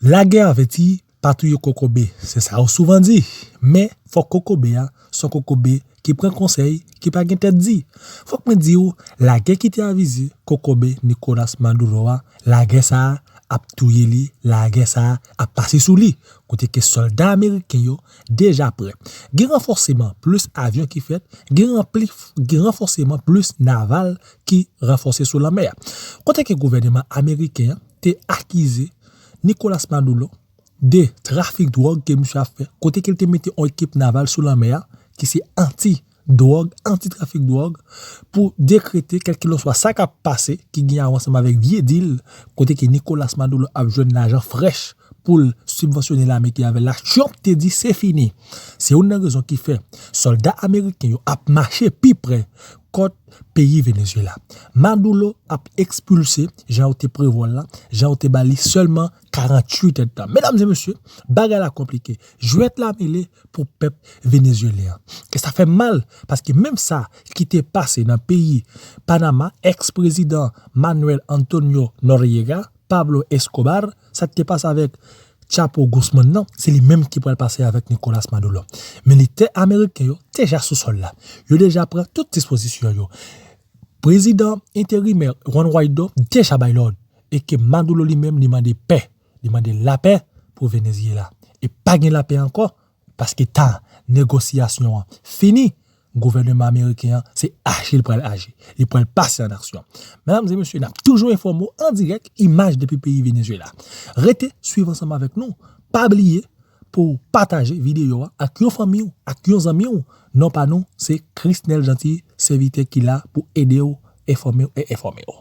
Lagè avèti pa touye kokobe, se sa yo souvan di, men fòk kokobe a se yon kokobe ki pran konsèy, ki pa gen tèt di. Fòk mwen di w, lagè ki te avize kokobe Nicolas Maduro a, lagè sa a ap touye li, lagè sa a ap pase sou li, kote ke sòlda ameriken yo deja prè. Gen ranfòseman plis avyon ki fèt, gen ranfòseman plis naval ki ranfòse sou lanmè a. Kote ke gouvèneman ameriken an, te akize Nicolas Maduro de trafik dwòg ke misye ap fè kote ke li te mete yon ekip naval sou lanmè a ki se anti dwòg, anti trafik dwòg pou dekrete kèlkilanswa sa kap pase ki gen a wè ansanm avèk vye dil kote ke Nicolas Maduro ap jwenn lajan frèch poul sibvansyone lame ki avèl la. Trump te di se fini. Se youn nan rezon ki fè sòlda ameriken yo ap mache pi pre kòt. peyi Venezuela. Madoulo ap ekspilse jan yo te prevwa l la, jan yo te ba li sèlman 48 èdtan. Medam e mesye, bagay la konplike. Jwèt la mele pou pèp venezuelyen an. E sa fè mal paske menm sa ki te pase nan peyi Panama, ex-prezidan Manuel Antonio Noriega, Pablo Escobar, sa ki te pase avèk Chapo Guzman nan, se li menm ki pral pase avèk Nicolas Maduro. Militè ameriken yo deja sou sòl la. Yo deja pran tout dispozisyon yo. Prezidan enterimè Juan Guaido deja bay lòd e ke Maduro li menm li mande pè, li mande lapè pou Venezyela. E pa gen lapè ankò Paske tan negosyasyon an fini, gouvèneman ameriken an se aji l pral aji, li pral pase an aksyon. Medam e mesye, n ap toujou enfòme w an dirèk, imaj depi peyi Venezwela. Rete swiv ansanm avèk nou, pa bliye pou w pataje videyo a ak yon fanmi w, ak yon zanmi w. Non pa nou se Chrisnel Jeanty, sèvitè ki la pou ede w, enfòme w e enfòme w.